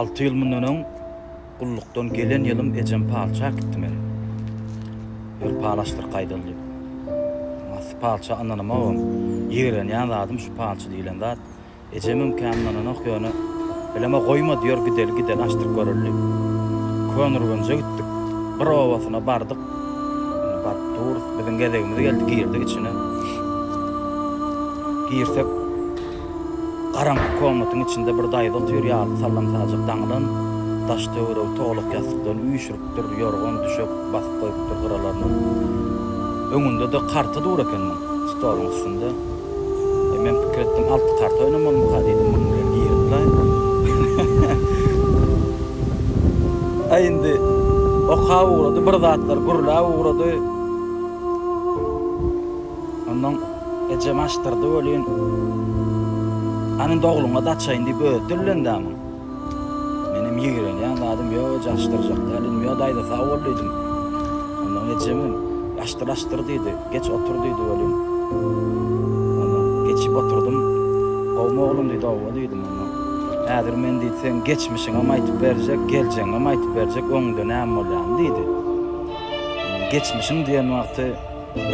Alty ýyl mundan öň gullukdan gelen ýylym ejem palçy äkitdi meni. Bir palaşdyr gaýdal diýip. Massy palçy ananymagam, ýigrenýän zadym şu palçy diýlen zat. Ejemem kän ynananok ýöne, bileme goýmady, ýör gideli, gideli açdyryp göreli diýip. Könürgenje gitdik. Bir obasyna bardyk. Indi baryp durus. Biziň gezegimiz geldi, girdik içine. Girsek. Garaňky komnatyň içinde bir daýza otyr ýaly sallam-sajak daňylan, daş-töweregi tolak ýassykdan üýşüripdir, ýorgan-düşek basyp goýupdyr gyralaryna. Öňünde-de karta dur eken muň, stoluň üstünde. Eý, men pikir etdim, alty karta oýnamalymyka diýdim, munuň bilen girip-laý. Aý, indi okap ugrady, bir zatlar gürläp ugrady. Ondan ejem açdyrdy welin, Hany indi ogluňa-da açaýyn diýip özi dillendi amyň. Menem ýigrenýän zadym, Ýok eje, açdyrjak däl, Ynjaa daýza sag bol diýdim. Ondan ejemem, Açdyr, açdyr diýdi. Geç otur diýdi welin, ondan geçip oturdym. Gowumy oglum diýdi, Oba diýdim. Ondan Häzir men diýdi, seň geçmişiňem aýtyp berjek, geljegiňem aýtyp berjek, öňüňde näme bolýany diýdi. Ondan geçmişiň diýen wagty.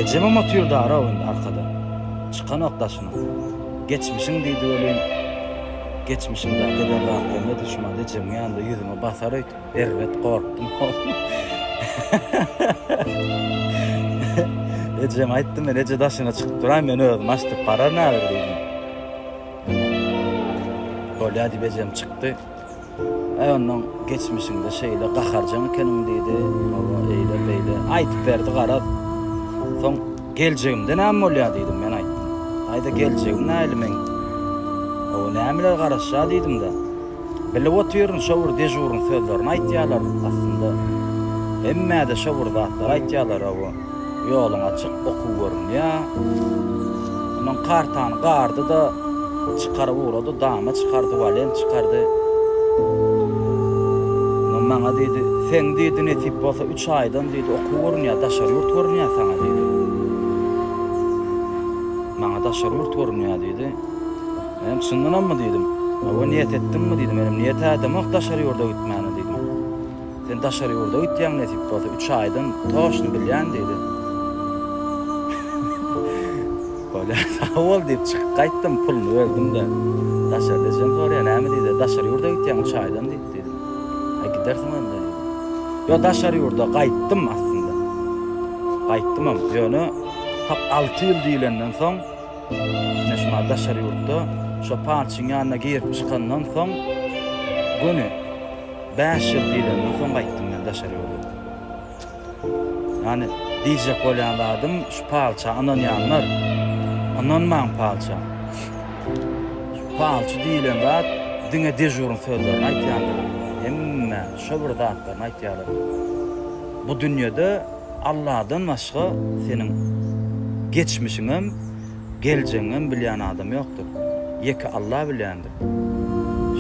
Ejemem otyrdar-ow indi arkada. Çykanok daşyna. Geçmişiň diýdi welin, geçmişim dagy giden rahatlygyma düşmady. Ejemiň ýanynda ýüzüme basar öýtüp, erbet gorkdum-ow. Ejeme aýtdym men, Eje daşyna çykyp duraý, men özüm açdyryp bararyn häzir diýdim. Bolýa diýip ejem çykdy. Äý onnoň geçmişiňde şeýle gaharjaň ekeniň diýdi, hawa eýle beýle aýdyp berdi garaz. Soň geljegimde näme bolýa diýdim men aýtdym. Aýda geljegiň näli meň? Hawa nämeler garaşýa diýdimdä. Bilip otyryn şo bir dežuryň sözlerini aýtýalar aslynda hemmäde şo bir zatlar aýtýalar hawa. Ýoluň açyk, oky görünýä. Ondan kartany gardy-da, çykaryp ugrady, dama çykardy, walent çykardy. Ondan maňa diýdi, Seň diýdi, nesip bolsa, üç aýdan diýdi, oky görünýä, daşary ýurt görünýä saňa diýdi. Maňa daşary ýurt görünýä diýdi. Menem çyndanammy diýdim. Hawa, niýet etdiňmi diýdi. Menem niýet ädemok daşary ýurda gitmäne diýdim. Sen daşary ýurda gitýäň nesip bolsa üç aýdan toşny bilýän diýdi. Bolýa sag bol diýip çykyp gaýtdym puluny berdim-de. Daşarda ejem soraýar näme diýdi daşary ýurda gitýäň üç aýdan diýip diýdim. Aý gidersiň onda diýdi. Ýok daşary ýurda gaýtdym aslynda. Gaýtdymam ýöne tap alty ýyl diýlenden soň ine şu mahaly daşary ýurtda şo palçyň ýanyna girip çykandan soň göni Bäş ýyl diýlenden soň gaýtdym men daşary ýurda. Ýani diýjek bolýan zadym şu palça ynanýanlar ynanmaň palça. Şu palçy diýilen zat diňe dežuryň sözlerini aýtýandyr. Hemme şo bir zatlaryny aýtýarlar. Bu dünýede Alladan başga seniň geçmişiňem, Geljegiňem bilýän adam ýokdur. Ýeke Alla bilýändir.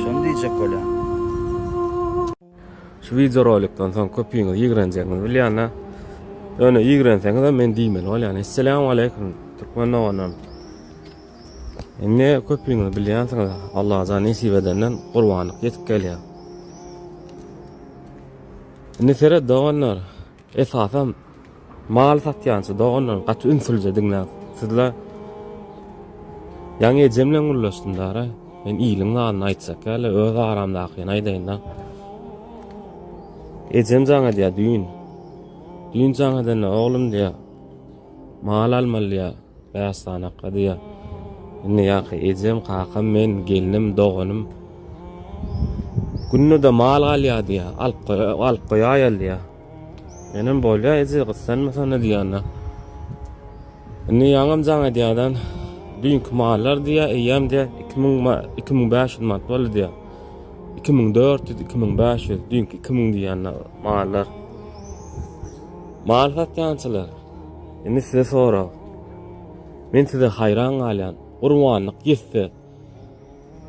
Şony diýjek bolýan. Şu wideo rolikden soň köpüňiz ýigrenjegiňizi bilýänä. Ýöne ýigrenseňizem men diýmeli bolýan. Esselämu aleýkum türkmen doganlarym. Indi köpüňiz bilýänsiňiz Allajan nesip edenden gurbanlyk ýetip gelýär. Indi seret doganlar. Esasam mal satýança doganlar gaty ünslice diňläň sizler Ýaňy ejem bilen gürleşdim dara men iliň zadyny aýtjak ýaly öz aramdakyny aýdaýynda ejem jaň edýär düýn düýn jaň edende oglum diýýär mal almaly diýýär Bäş sany akga diýýär. Indi ýaňky ejem, kakam, men, gelnim, doganym Günde-de mal galýar diýýär. Alyp goýa, alyp goýaýaly diýýär. Menem bolýar eje, gyssanmasana diýýänler. Indi ýaňam jaň edýärden, düýnki mallar diýýär, eýýäm diýýär, iki müň ma-, iki müň bäş ýüz manat boldy diýýär. Iki müň dört ýüz, iki müň bäş ýüz, düýnki iki müň diýýänler mallar. Mal satýançylar. Indi size sorag. Men size haýran galýan. Gurbanlyk ýetse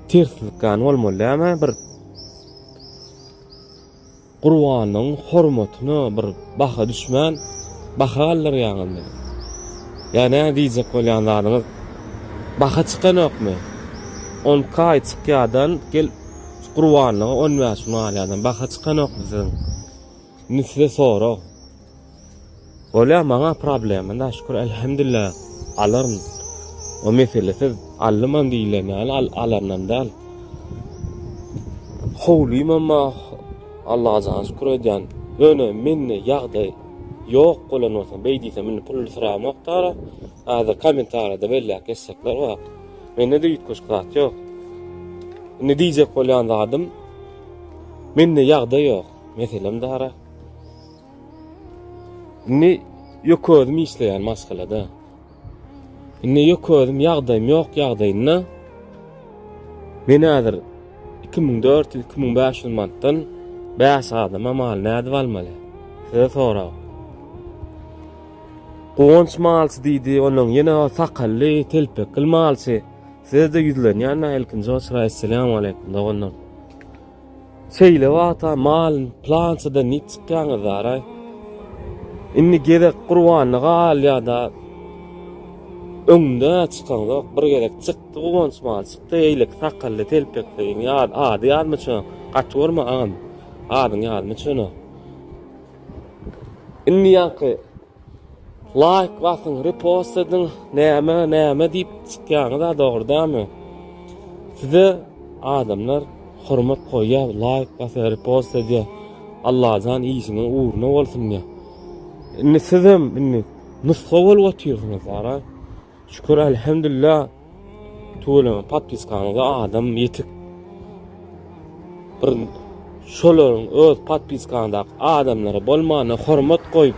terslik gan bolmaly däme bir Gurbanlygyň hormatyna bir baha düşmän baha galdyrýaňyz meni. Ýa nä diýjek bolýan zadyňyz? Baha çykanokmy? 10 kaý çykýadan gel Gurbanlyga 15 gün galýadan baha çykanokmy siziň? Müsle sorag. Bolýa maňa problema da şükür elhemdilla alaryn. O meselesiz aldymam diýilen ýaly al alandan däl. Howlymam ba Allaha jan şükür edýän. Ýöne mende ýagdaý ýok bolan bolsa beý diýsem indi pul syramok dara. Häzir kommentariýada belläp geçjekler ba. Mende de üýtgeşik zat ýok. Indi diýjek bolýan zadym mende ýagdaý ýok. Meselem dara. Indi ýok özüm işleýän maşgalada. Indi ýok özüm ýagdaýym ýok ýagdaýynda. Men häzir 2400-2500 manatdan 5 adama mal nädip almaly? Size sorag. Guwanç malçy diýdi, onuň ýene o sakally, telpekli malçy. Size-de ýüzlenýän-ä ilkinji oçur, assalamu aleykum, doganlar. Seýlap ata malyn plançadan diýip çykýaňyzaraý. Indi gezek gurbanda galýada öňde çykaňzok. Bir gezek çykdy guwanç mal çykdy eýleki sakally telpekli ýaz ady ýadyma ço gaty görme agam adyň ýadyma çöne. Indi ýaňky Laýk basyň repost ediň näme näme diýip çykýaňyza dogrydanmy size adamlar hormat goýýa laýk basýa repost edýä Allajan işiňiz ugruna bolsun diýä indi sizem indi nusga bolup otyrsyňyz ara Şükür Elhemdülla Tuweleme patpiskaňyza adam ýetik. Bir şolaryň öz patpiskaňdaky adamlara bolmana hormat goýup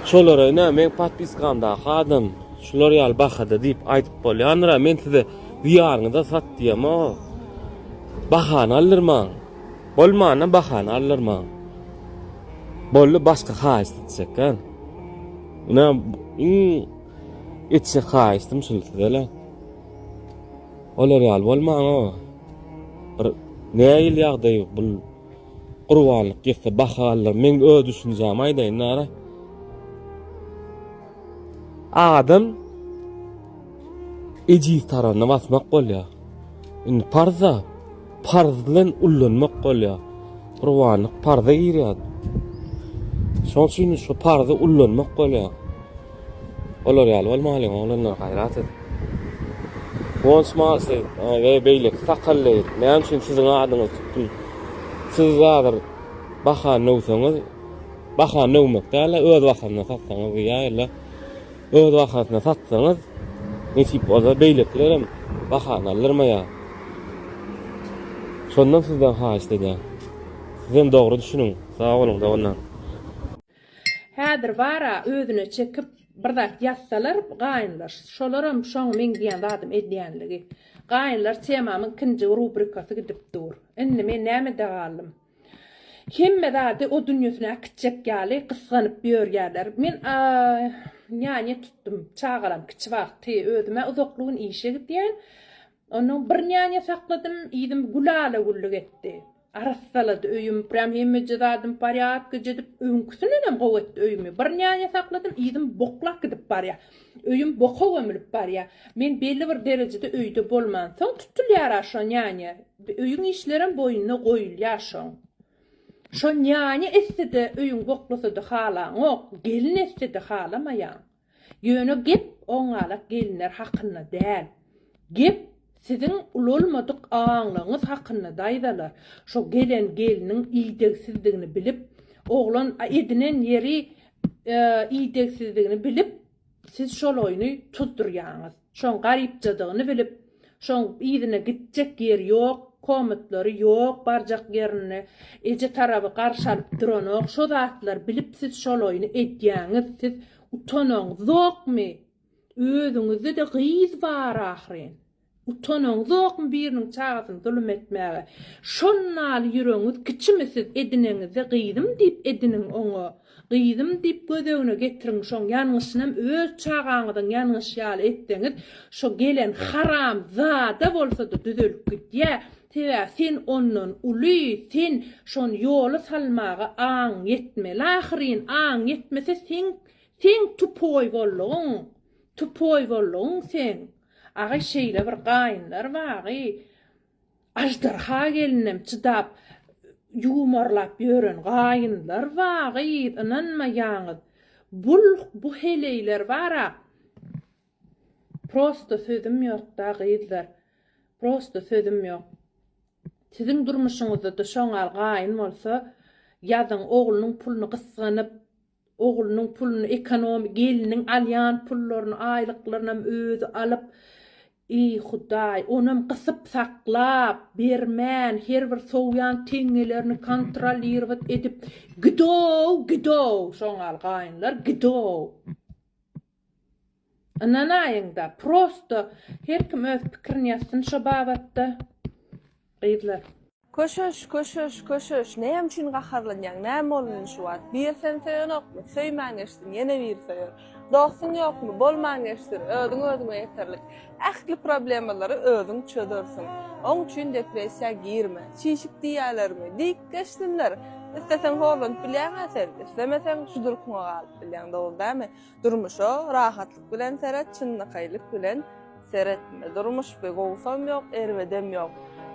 şolara ine men patpiskamdaky adam şular ýaly bahada diýip aýdyp bolýandyr ha men size diýaryňyza sat diýema bahana aldyrmaň bolmana bahana aldyrmaň bolly başga haýyşt etjek ha ine iň Etjek haýyşdym şul sizele. Olar ýaly bolmaň-a. Bir nägil ýagdaý bul gurbanlyk ýetse baha allar. Men öz düşünjämi aýdaýyn nara. Adam ejiz taranyny basmak bolýar. Indi parza parz bilen ullanmak bolýar. Gurbanlyk parza girýär. Şoň üçin şu parzy ullanmak bolýar. Olar ýaly bolmalyň oglanlar gaýrat edip. Guwanç Malsy we beýleki sakally näme üçin siziň adyňyzy tutdum? Siz häzir bahany döwseňiz, bahany döwmek däl-de öz bahamyna satsaňyz diýýär ýa-da Öz bahasyna satsaňyz, nesip bolsa beýlekilerem bahany aldyrmaýar. Şondan sizden haýyşt edýän. Sizem dogry düşüniň. Sag boluň doganlar. Häzir bara özüne çekip bir zat ýazsalar gaýynlar şolaram şoň meň diýen zadym edýänligi. Gaýynlar temamyň ikinji rubrikasy gidip dur. Indi men nämede galdym. Hemme zady o dünýesine äkitjek ýaly gysganyp ýörýärler. Men Anýany tutdum. Çagalam kiçi wagty. Özüm-ä uzaklygyn işe gidýän. Onnoň bir Anýany sakladym. Yzym gül ala-güllük etdi. Arassalady öýüm. Prýam hemmeje zadym porýadka jedip, öňküsindenem gowy etdi öýümi. Bir Anýany sakladym, yzym boklap gidip barýar. Öýüm boka gömülip barýa. Men belli bir derejede öýde bolmansoň, tutulýar-a şo nýanýa. Öýüň işlerem boýnuna goýulýar şoň. Şo nýanýa etse-de öýüň boklasady halaňok, gelin etse-de halamaýaň. Ýöne gep oňňalak gelinler hakynda däl. Gep Siziň ulalmadyk aňlygyňyz hakynda daýzalar şo gelen gelniň idegsizdigini bilip oglan edinen ýeri idegsizdigini bilip siz şol oýny tuzdurýaňyz şoň garypjadygyny bilip şoň yzyna gitjek ýeri ýok komatlary ýok barjak ýerinde eje taraby garşy alyp duranok şo zatlar bilip siz şol oýny edýäňiz siz utanaňyzokmy Özüňizde-de gyz bar ahyryn. Utanaňyzokmy biriniň çagasyny zulum etmäge? Şonnaly ýüregiňiz kiçimi siz edineňizde gyzym diýip ediniň oňa. Gyzym diýip gözegine getiriň şoň ýangyşynam öz çagaňyzyň ýangyşy ýaly etseňiz şo gelen haram zada bolsada düzelip gidýä. Sebäbi sen ondan uly sen şony ýola salmaga aň ýetmeli ahyryn aň ýetmese seň Seň tupoý bollugyň tupoý bollugyň seň agaý şeýle bir gaýynlar bagy aždarha gelinem çydap ýumarlap ýören gaýynlar bagy ynanmaýaňyz bul bu heleýler bara prosta sözüm ýokda gyzlar prosta sözüm ýok siziň durmuşyňyzda da şoňal gaýyn bolsa ýazyň oglunyň puluny gysganyp Oglunyň puluny ekonomi gelniň alýan pullaryny aýlyklarynam özi alyp Eý Hudaý onam gysyp saklap bermän her bir sowýan teňňelerini kontrollirowat edip gidow gidow şoňal gaýynlar gidow. Ynanaýyňda prosto her kim öz pikirini ýazsyn şo babatda gyzlar. Köşeş köşeş köşeş näme üçin gaharlanýaň näme boldy indi şu wagt bir sen söýenokmy söýmän geçsin ýene biri söýer dostuň ýokmy bolman geçsin özüň özüňe ýeterlik ähli problemalary özüň çözersiň oň üçin depressiýa girme çişik diýýälermi diýip geçsinler isleseň horlanyp bilýäňä sen islemeseň şu durkuňa galyp bilýäň dogry dämi Durmuşa rahatlyk bilen seret çynlakaýlyk bilen seretme durmuş bi gowusam ýok erbedem ýok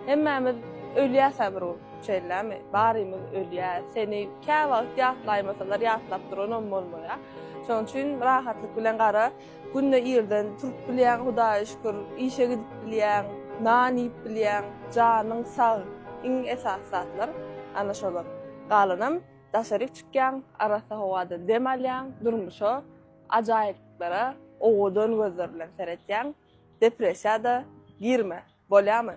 hemmämiz ölýäsä bir gün şeýlemi barymyz ölýäs seni käwagt ýatlaýmasalar ýatlap duranam bolmaýa şonuň üçin rahatlyk bilen gara günde irden turup bilýäň hudaýa şükür işe gidip bilýäň nan iýip bilýäň janyň sag iň esasy zatlar ana şolar galanam Daşaryk çykýaň, arassa howada dem alýaň, durmuşa, ajaýyplyklara owadan gözler bilen seretýäň, depressiýa-da girme, bolýamy?